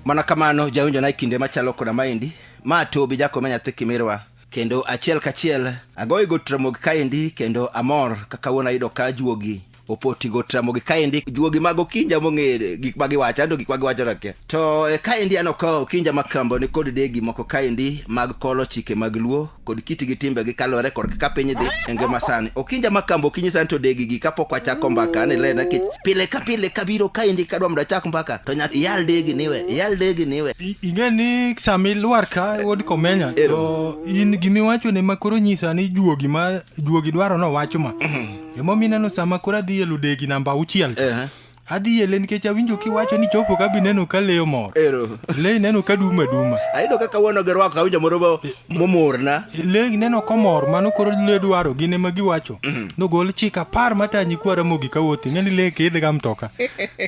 mana kamano jawinjo na e kinde machalo koda maendi ma tobi jakome nyathi kimirwa kendo achiel kachiel agoyo go tramogi kaendi kendo amor kaka wuon ayudo ka juogi opotigo tramogi kaendi juogi mag okinja mong'ere gik ma giwacho ando gik ma giwacho rake to e, kaendi an okawo okinja ma kambo ni kod degi moko kaendi mag kolo chike mag luo kod kiti gi timbe gi kalore kod kaka piny dhi e ngima sani okinja ma kambo okinyi sani to degi gi kapok wachako mbaka ni lena kech pile ka pile kabiro kaendi kadwa mondo achak mbaka to nyaka iyal degi niwe iyal degi niwe ing'e ni sami lwar ka wuod komenya to in gimiwacho ne makoro nyisa ni juogi ma juogi dwaro nowacho ma Emomiyo ineno sama koro adhi e ludegi namba auchiel cha. Ehe. Adhi ele nikech awinjo kiwacho ni chopo ka be ineno ka leyo mor. Ero. Le ineno ka duma duma. Ayudo kaka wuono gi rwako awinjo moro mo- momorna. Le ineno komor mano koro le dwaro gin ema giwacho. Nogol chik apar matanyi kwa Ramogi ka wuothi ng'eni le kidh ga mtoka.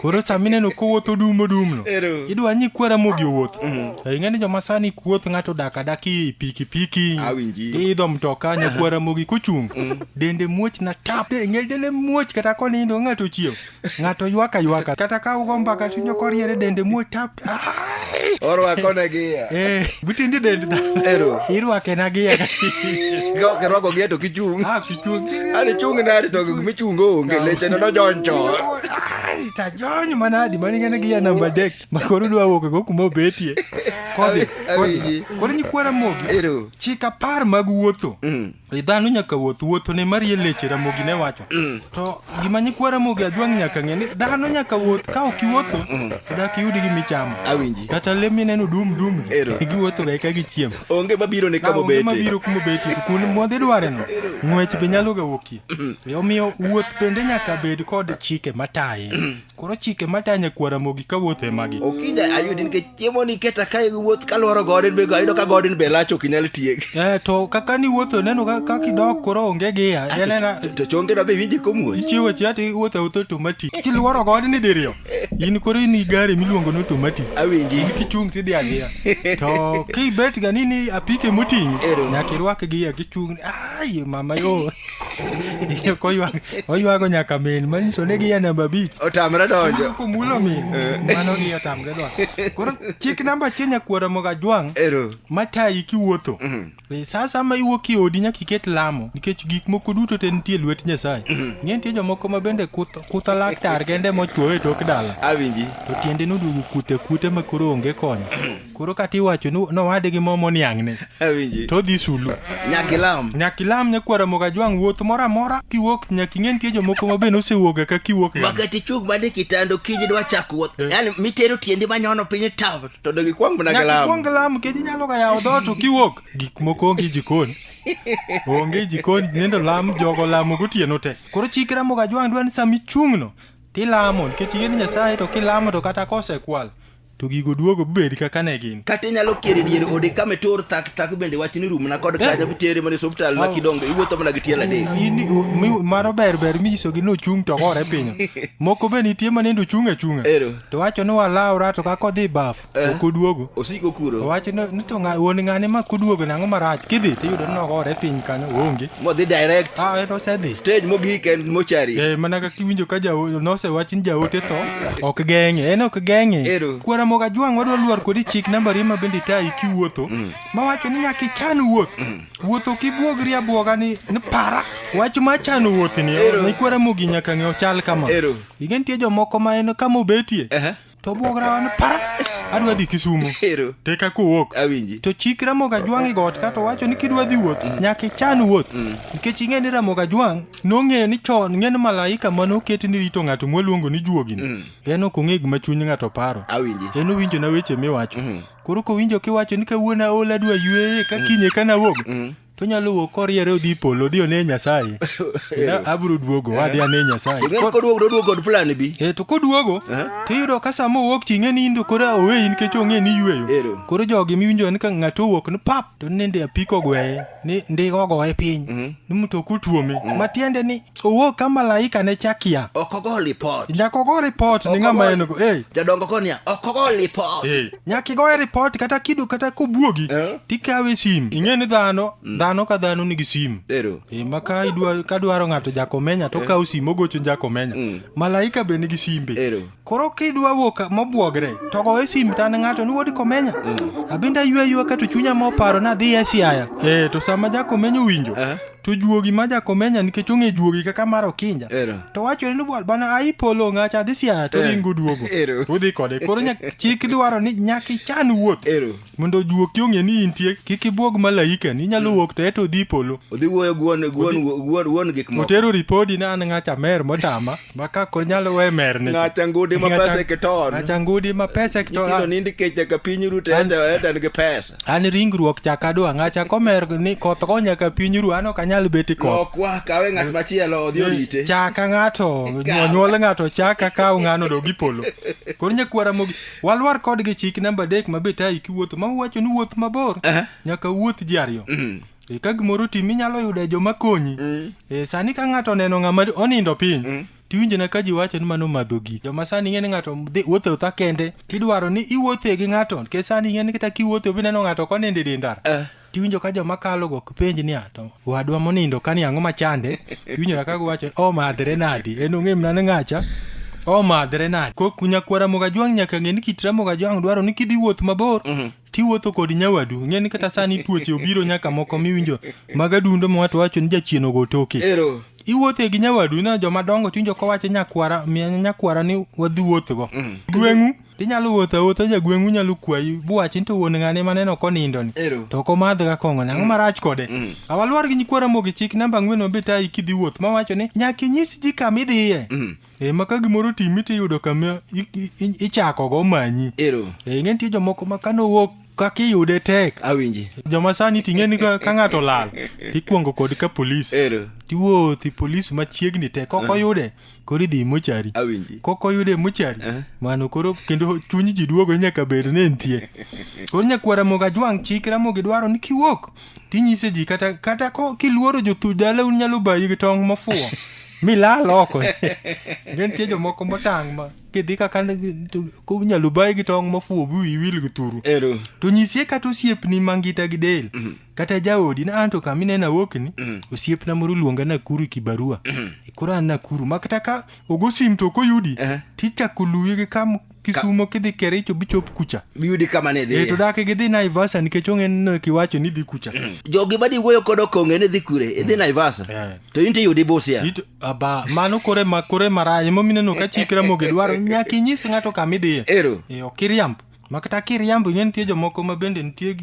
Koro sama ineno kowuotho dum odumno. Ero. Idwa ni kwa Ramogi owuoth. To ing'eni joma sani kuoth ng'ato dak adaki pikipiki. Awinji. Idho mtoka nyakwa Ramogi kochung'. dende muoch na tap ngel dende muoch kata konindo ng'ato chiew ng'ato ywaka ywaka kata ka ugo mbaka tinyo koriere dende muoch tap orwako ne gia eh butindi dende da ero irwake na gia go ke rogo gia to kichung ah kichung ani chung na ari to mi chung go nge leche no joncho ta jonyo manadi mani ngene gia namba dek makoro dwa wuok go kuma obetie kodhi kodhi nyikwara mogi ero chika par mag wuotho mm. dhano nyaka wuoth wuotho ne marie leche ramogi ne wacho mm. to gima nyikwa ramogi ajwang' nyaka ng'e ni dhano nyaka wuoth ka ok iwuotho mm. dak iyudi gi michamo awinji kata le mineno dum dum giwuotho ga eka gichiemo onge mabiro ne kama obete mabiro kuma obete kuonde mwadhi dware no ng'wech be nyalo ga wuokie mm. omiyo wuoth bende nyaka bed kod chike mataye Koro chike matanya kwa Ramogi ka wuoth e magi. Okinyi ayudi nikech chiemo ni keta ka wuoth ka lworo godin be ayudo ka godin be lach ok inyal tiek. Eh to kaka ni wuotho neno ka ka kidok koro onge giya. Ah, Yanena To chonge no be winje komuoch. ichiwo chia ti wuotho awuotha automatic. Kilworo god ni diriyo. In koro in i gari miluongo ni automatic. Awinji. Kichung' tidhi adhiya. To kibet ga ni ni apike moting'i Ero. nyaka irwak giya kichung' ni ai mama yo. Iye koywak oywago nyaka min manyiso ni giya namba abich otamre donjo komulo min mano gi otamre dwa koro chik namba achiel nyakwara moga jwang' ero matayi kiwuotho E, sa asaya ma iwuok e odi nyaka iket lamo nikech gik moko duto te nitie e lwet nyasaye ng'e nitie jomoko ma bende kuth- kutha laktar kende mochuoyo e tok dala awinji to tiende noduogo kute kute ma koro onge konyo koro kata iwacho ni nowade gi mo moniang'ne awinji to odhi sulu nyaka ilam nyaka ilam nyakwara moga jwang' wuoth moro amora kiwuok nyaka ing'e nitie jomoko ma bende osewuoga ka kiwuok ga. makati ichung mane kitando kiny idwa chako wuoth yani mitero tiendi manyono piny taw to dog ikwang mana gi nyaka lam ikwong lam kech inyalo ga yawo dhoot to kiwuok gik moko onge jikon onge jikon nendo lam jogo lamo gotieno te koro chikra moga jwang' dwa ni sama ichung'no tilamo nikech ing'e ni nyasaye to kilamo to kata kosekwal To gigo duogo bed kaka ne gin. Kata inyalo kier e dier ode kama itur thak thak bende wach ni rumna kod kanyo bitere mana e osiptal ma kidongo iwuotho mana gi tielo adek. In- u- mi- Mano ber ber minyisogi ni ochung' to gore piny. Moko be nitie ma nindo ochung' achung'a. Ero. To wacho ni walawra to kaka odhi baf Eh. ok oduogo. Osiko kuro. Owacho ni ni to ng'a- wuon ng'ane ma koduogo nang'o marach kidhi tiyudo ni nogore piny kanyo onge. Modhi direct. Ah, en osedhi. Stage mogik en mochari. Eh, mana kaka iwinjo ka jaote nosewach ni jaote tho ok geng'e en ok geng'e Ero. kwara moga jwang' wadwa lwar kodi chik nambari ma bende tayi kiwuotho mawacho ni nyaka ichan wuoth wuoth ok ibuogri abwoga ni ni para wach ma chano wuoth ni Ero. ni kwara mogi nyaka ng'e ochal kama Ero. ige nitie jomoko ma en kama obetie Aha. to obwograwa ni para adwa dhi kisumo Ero. teka kowuok Awinji. to chik ramoga jwang' igot ka to wacho ni kidwa dhi wuoth nyaka ichan wuoth nikech ing'e ni ramoga jwang' nong'eyo ni chon ng'en malaika ma noketi ni rito ng'ato mwaluongo ni juogini mm. en ok ong'e gima chuny ng'ato paro awinji en owinjo na weche miwacho mm. koro kowinjo kiwacho ni kawuono aol adwa yueye ka mm. kinye ka nawuog mm. to nyalo wuok koriere odhi polo odhi one nyasaye abiro duogo eh. wadhi ane nyasaye koduogo to oduogo kod plan bi e to koduogo eh. to iyudo ka sama owuok ching'e ni indo koro oweyi nikech ong'e ni yueyo koro jogi miwinjo ni ka ng'ato owuok ni pap to nende apiko gweye ni ndiga ogoye piny mm -hmm. ni mtoka otuome mm -hmm. matiende ni owuo ka malaika ne chakia ok ogo ripot nyaka ogo ripot ni ng'ama en go hey. jodongo ko niya ok ogo ripot hey. nyaka igoye ripot kata kido kata kobuogi eh? tikawe sim ing'e ni dhano mm. dhano ka dhano nigi sim ero e, ma ka idwa ka dwaro ng'ato jakomenya to eh? kawo sim ogocho jakomenya mm. malaika be nigi simbe ero Koro kidwa wuok ka- mobwogre to goye simu to an ng'ato ni wuod komenya abende aywe aywa ka to chunya moparo ni adhi e siaya eh to sama jakomenya owinjo Eh. to juogi ma jakomenya nikech ong'e juogi kaka mar okinja Ero. to wachore ni bwana bwana ai polo ng'acha adhi siaya to Eh. ringo duogo Ero. udhi kode koro nyak- chik dwaro ni nyaka ichan wuoth Ero. mondo ojuoki ong'e ni intie kik ibwog malaika ni nyalo wuok to eto odhi polo odhi wuoyo gi wuon- gi wuon- wuon wuon gik moko otero ripodi ni an ng'acha mer motama ma ka konyalo we mer ni Ng'acha ngudi ma pesa e kiton. ng'acha ngudi ma pesa e kiton nyithindo nindi kech nyaka piny ru to An- enda enda nigi pesa an ringruok chaka dwa ng'acha komer ni koth go nyaka piny ru an ok anyal beti koth lokwa kawe ng'at machielo odhi orite chaka ng'ato Ikaw. onyuol ng'ato chaka kaw ng'ano dogi polo koro nyakwara mogi Walwar kodgi chik namba adek ma betayi kiwuotho ma uwacho ni wuoth mabor Aha. nyaka wuoth ji ariyo. Mm. E, ka gimoro tim inyalo yudo joma konyi. Mm. E, sani ka ng'ato oneno ng'ama onindo piny Mm. tiwinjo na ka ji wacho ni mano madho gik joma sani ing'e ni ng'ato dhi- wuotho otha kende kidwaro ni iwuothe gi ng'ato nikech sani ing'e ni kata kiwuothe obineno ng'ato konindo e dendara Eh. tiwinjo ka joma kalo go penj niya to wadwa monindo kani ang'o machande iwinjo na kago wacho omadhre nadi en ong'e mna ni ng'acha omadhre nadi ko kunya kwara moga jwang' nyaka ng'e ni kit ramoga jwang' dwaro ni kidhi wuoth mabor tiwuotho kod nyawadu ng'e ni kata sani tuoche obiro nyaka moko miwinjo mag adundo ma wato wacho ni jachien ogo toke ero iwuothe gi nyawadu na joma dongo tiwinjo kowacho nyakwara miya nyakwara ni wadhi wuothgo gweng'u Inyalo wuotho awuotha jagweng'u nyalo kwayi buwachi ni to wuon ng'ane maneno konindo ni Ero. to ok omadh ga kong'o ni ang'o marach kode Mm. awaluor gi nyikwara mogi chik namba ang'wen mabe tayi kidhi wuoth mawacho ni nyaka inyis ji kama idhiye Mm. e ma ka gimoro otimi tiyudo kama i- i- i- ichakogo manyi Ero. e ing'e nitie jomoko ma kane owuok kaka iyude tek Awinji. joma sani ting'e ni ka ka ng'ato olal tikwongo kod ka polis Ero. tiwuothi polis machiegni tek ok oyude koro idhi mochari kok oyude mochari eh? mano koro kendo chuny ji duogo nyaka bed ni nitie koro nyakwara moga jwang' chik ramogi dwaro ni kiwuok tinyise ji kata kata ko kiluoro jothu dala un nyalo bayi gi tong' mofuwo milal oko nitie jomoko motang' ma kidhi kaka kunyalo bayi gi tong' mofuwo bi iwil gi turu to nyisie kata osiepni mangita gi del mhm. kata jaodi na anto kama inena wokni mm. osiepna moro luonga nakuru kibarua mm. e koro an nakuru ma kata ka ogo sim to ok oyudi uh -huh. tichako luye gi kam kisumo Ka... kidhi kericho bichop kucha biyudi kama ne dhi e, to dake gidhi naivasa nikech ong'e ni kiwacho ni dhi kucha mm. jogi badi wuoyo kod okong'e ni dhi kure idhi mm. naivasa yeah. to in tiyudi busia It, aba mano kore ma kore marach emomineno ka chik ramogi dwaro nyaka inyis ng'ato kama idhiye ero e, ok iriambo ma kata kiriambo ing'e nitie jomoko ma bende nitie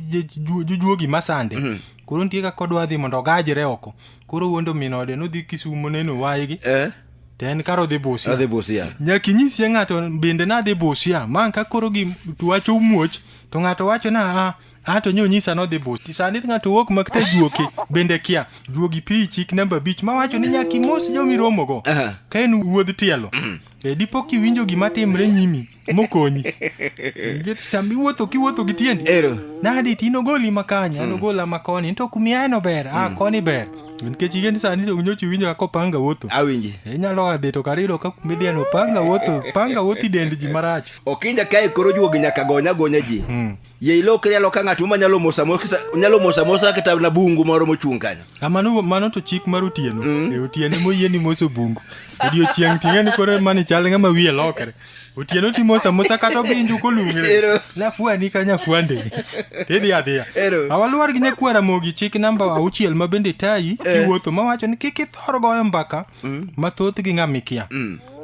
jujuogi masande mm -hmm. koro nitie kaka odwa dhi mondo ogajre oko koro wuondo min ode nodhi kisumo neno waygi eh? to en kar odhi busia adhi busia nyaka inyisie ng'ato bende nadhi busia ma ka koro gi wacho muoch to ng'ato wacho na a ah, a ah, to nyo nyisa nodhi busi sani ng'ato wuok ma kata juoki bende kia juogi pi chik namba abich ma wacho ni nyaka imos jomiromogo uh -huh. ka en wuodh tielo mm. e dipo kiwinjo gima timre nyimi mokonyi Nikech sama iwuotho kiwuotho gi tiendi Ero. nadi ti nogoli ma kanya nogola ma koni to kumiaeno ber a koni ber nikech igeni sani to nyocha iwinjo kaka opanga wuotho Awinji. inyalo oa dhi to kar iyudo ka kumidhieno panga wuotho panga wuotho i dend ji marach Okinja kae koro juogi nyaka gonya gonya ji. Ye ilokri aloka ng'at ma nyalo mosa mosa nyalo mosa mosa kata na bungu moro mochung' kanyo. Ah, mano mano to chik mar otieno e otieno moyieni moso bungu odiochieng' ting'eni koro mani chal ng'ama wiye lokre otieno timo samusa kata obinju kolung're Ero. nafuani ka nyafuande tidhi adhiya Ero. awaluwar gi nyakwara mogi chik namba auchiel ma bende tayi kiwuotho mawacho ni kik ithor goyo mbaka mathoth gi ng'a mikia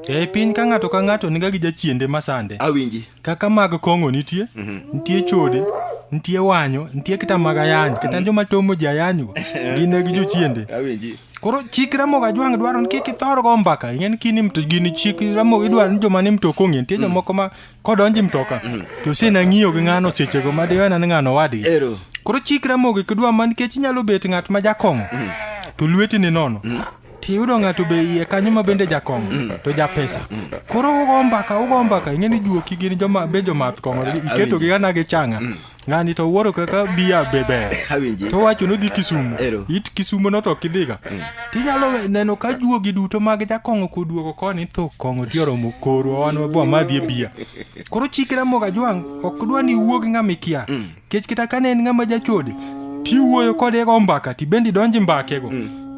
e piny ka ng'ato ka ng'ato niga gi jachiende masande awinji kaka mag kong'o nitie nitie chode nitie wanyo nitie kata mag ayany kata joma tomo ji ayanyo gin gi jochiende awinji Koro chik Ramogi Ajwang' dwaro ni kik ithor go mbaka. Ing'e ni kini mto gini chik Ramogi dwaro ni joma ni mtoka ong'e. Nitie jomoko ma kodonji mtoka to osena ng'iyo gi ng'ano sechego ma diwena ni ng'ano wadgi. Ero. Koro chik Ramogi kidwa ma nikech inyalo bet ng'at ma jakong'o to lweti ni nono. Tiyudo ng'ato be iye kanyo ma bende jakong'o to japesa. Koro ugo mbaka ugo mbaka ing'e ni juoki gin joma be jomath kong'o iketogi gana gi changa. ng'ani to wuoro kaka biya be ber Awinji. to wachonu gi kisumu Ero. it kisumu no to kidhiga tinyalo we- neno ka juogi duto mag jakong'o koduogo koni tho kong'o ti oromo korwa wan wabwa madhi e biya koro chikra moga jwang' ok dwa ni wuog ng'ama ikia kech kata kane en ng'ama jachode tiwuoyo kode go mbaka tibende idonje mbakego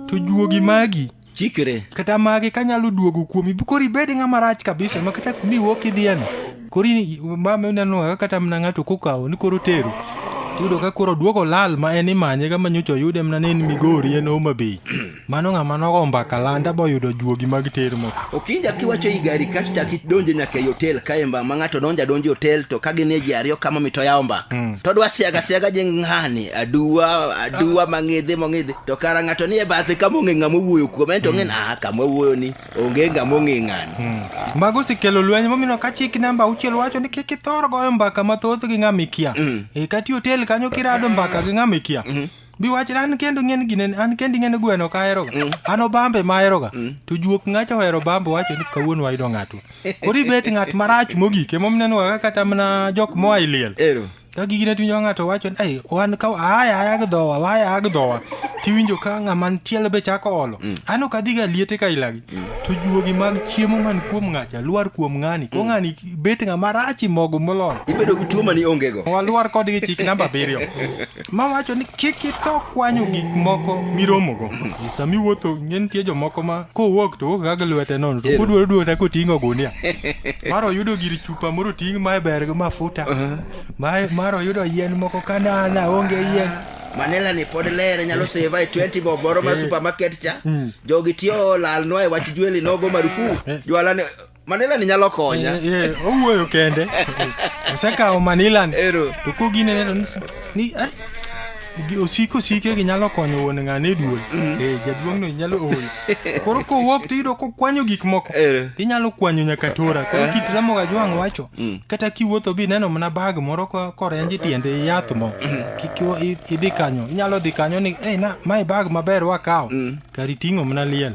to juogi magi chikre. Kata magi kanyalo duogo kuomi, koro ibed ng'ama rach kabisa ma kata kuma iwuok idhiyeno, koro mama ineno kaka kata mana ng'ato kokawo ni koro tero. Iyudo ka koro duogo lal ma en imanye ga manyocha oyude mana ni en Migori en Homa Bay. Mano ng'ama nogo mbaka landa boyudo juogi mag ter moko. Okinja kiwacho i gari kasto chak idonje nyaka ei hotel kae mba ma ng'ato donjo adonja e hotel to ka gin e ji ariyo kama mito yawo mbaka. To dwa siaga siaga je ng'ani aduwa aduwa mang'idhi mong'idhi. To kara ng'ato nie bathe ka mong'e ng'ama owuoyo kuome en to ng'e ah kama owuoyo ni onge ng'ama ong'e ng'ano. Mago osekelo lweny momiyo ka chik namba auchiel wacho ni kik ithor goyo mbaka mathoth gi ng'ama ikia. E kati hotel kanyo kirado mbaka gi ng'ama ikia. Bi wach an kendo ng'en gine an kendi ng'en gweno ka aheroga. An obambe ma aheroga. To juok ng'acha ohero bambo wacho ni kawuono wayudo ng'ato. Koro ibet ng'at marach mogik emomiyo ineno kaka kata mana jok moa e liel. Ero. ka gigine tiwinjo ka ng'ato wacho ni "Ei, wan ka aya aya gi dhowa waya aya gi dhowa tiwinjo ka ng'ama ntiel be chako olo an ok adhiga liete ka ilagi to juogi mag chiemo man kuom ng'acha lwar kuom ng'ani ko ng'ani bet ng'ama rachi mogo moloyo ibedo gi tuo mani onge go walwar kodgi chik namba abiriyo ma wacho ni kik itho kwanyo gik moko miromogo sami wuotho ing'e nitie jomoko ma kowuok to wuok ga gi lwete nono to kodwaro duogo ta koting'o gunia mar oyudo gir chuo chupa moro ting' mae ber gi mafuta mae mar oyudo yien moko kanana onge yien manila ni pod lere nyalo seva e 20 bob moro ma supermarket cha jogi tiyo lalnwa e wach jweli nogo marufu jwala ni manila ni nyalo konya Eh, eh, owuoyo kende osekawo manilan Ero. to koginene to ni- ni ai, Gi- osiko sike gi nyalo konyo wuon ng'ane duol Eh, jaduong' no nyalo ol koro kowuok to iyudo kokwanyo gik moko Eh. inyalo kwanyo nyaka tora koro kit ramoga jwang' wacho kata kiwuotho bi neno mana bag moro ko- korenji tiende yath mo Kik iwa- i- idhi kanyo inyalo dhi kanyo ni "Eh, na mae bag maber wakawo kari ting'o mana liel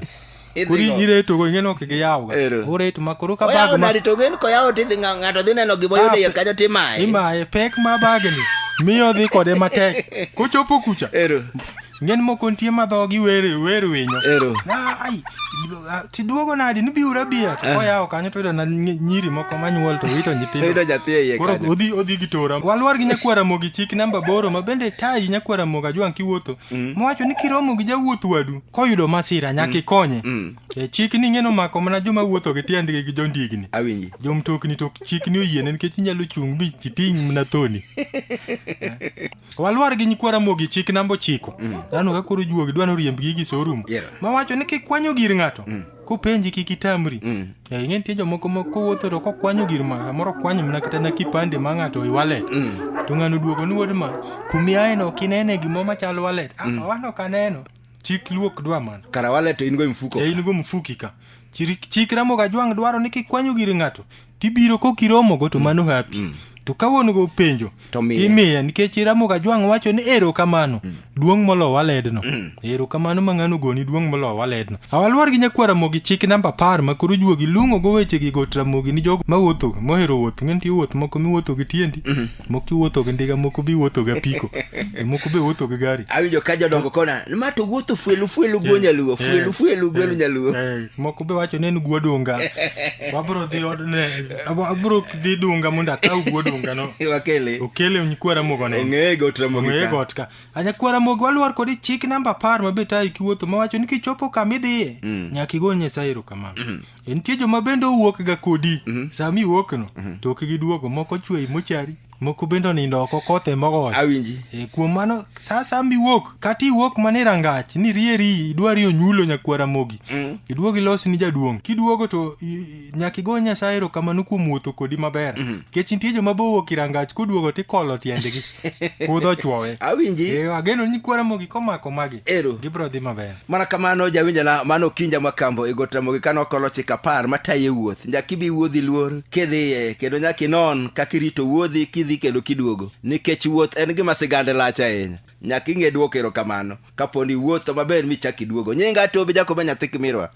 kori nyire to go ingeno kige yawo ore to makoro ka bag ma to gen ko yawo tidhi ngato dhi neno gima yudo ye kanyo timaye imaye pek ma bag ni miyo dhi kode matek kochopo kucha ero ngen moko nitie ma dhogi wer wer winyo ero ai tiduogo nadi ni biura bia to yawo kanyo to na nyiri moko manyuol to wito nyithindo wito nyathi ye koro odhi odhi gi tora walwar gi nyakwara mogi chik namba boro ma bende tayi nyakwara moga jwang kiwuotho mm. mowacho ni kiromo gi jawuoth wadu koyudo masira nyaka mm. ikonye mm. e, chikni ing'eno mako mana joma wuotho gi tiendgi gi jondigni awinji jomtokni to chikni oyiene nikech inyalo chung' mi titing' mana thoni walwar gi nyikwara mogi chik namba ochiko mm. dhano ka koro juogi dwa noriembgi gi sorum ma wacho ni kikwanyo gir ng'ato kopenji kik itamri mm. eh, ing'e nitie jomoko ma kowuotho to kokwanyo gir ma kamoro kwanyo mana kata na kipande ma ng'ato i walet mm. to ng'ano duogo ni wuod ma kumiaeno kinene gimo machal walet ah, mm. wan ok aneno chik luok dwa man kara wale to in go mfuko e in go mfuki ka chik ramo ga jwang dwaro ni kikwanyo giri ng'ato tibiro kokiromo go to mm. mano hapi mm. to ka wuon go penjo imiye nikech iramo ga jwang wacho ni ero kamano mm. duong' molo waledno mm. ero kamano ma ng'ano goni duong' molo waledno awalwar gi nyakwara mogi chik namba apar ma koro juogi lung'o go weche gi got ramogi ni jogo mawuotho mohero wuoth ng'e nitie wuoth moko miwuotho gi tiendi mm. moko iwuotho gi ndiga moko be iwuotho gi apiko e moko be iwuotho gi gari awinjo ka jodongo kona ma to wuotho fuelu fuelu go eh, nyaluo eh, fuelu fuelu go eh, nyaluo moko be wacho nen guo dunga wabro dhi od ne abro dhi dunga mondo akaw guo dunga no wakele okele nyikwara mogo ne ongeye got ramo ongeye got ka anya kwara mogo walwar kodi chik namba 10 ma be tayi kiwuotho ma wacho ni kichopo kama idhiye mm. nyaka igol nyasaye erokamano mm. E, nitie joma bende owuok ga kodi mm-hmm. sami wuok no mm-hmm. to ok giduogo moko chwei mochari moko bende onindo oko kothe mogoyo awinji e, kuom mano sa sami wuok kata iwuok mana irangach ni rieri idwari onyulo nyakwara mogi mm. iduog ilos ni jaduong' kiduogo to nyaka igo nyasaye erokamano kuom wuotho kodi maber mm-hmm. kech nitie joma bowuok irangach koduogo tikolo tiendgi kudho ochwowe awinji Eh, ageno ni kwara mogi komako magi Ero. gibiro dhi maber mana kamano jawinjana mano kinja makambo e got ramogi kane okolo chik apar mataye wuoth nyaka ibi wuodhi luor kidhiye kendo nyaka inon kaka irito wuodhi kidhi kendo kiduogo nikech wuoth en gima sigande lach ahinya nyaka ing'e dwoko erokamano kapo ni wuotho maber michak iduogo nyinga tobi jakoba nyathi kimirwa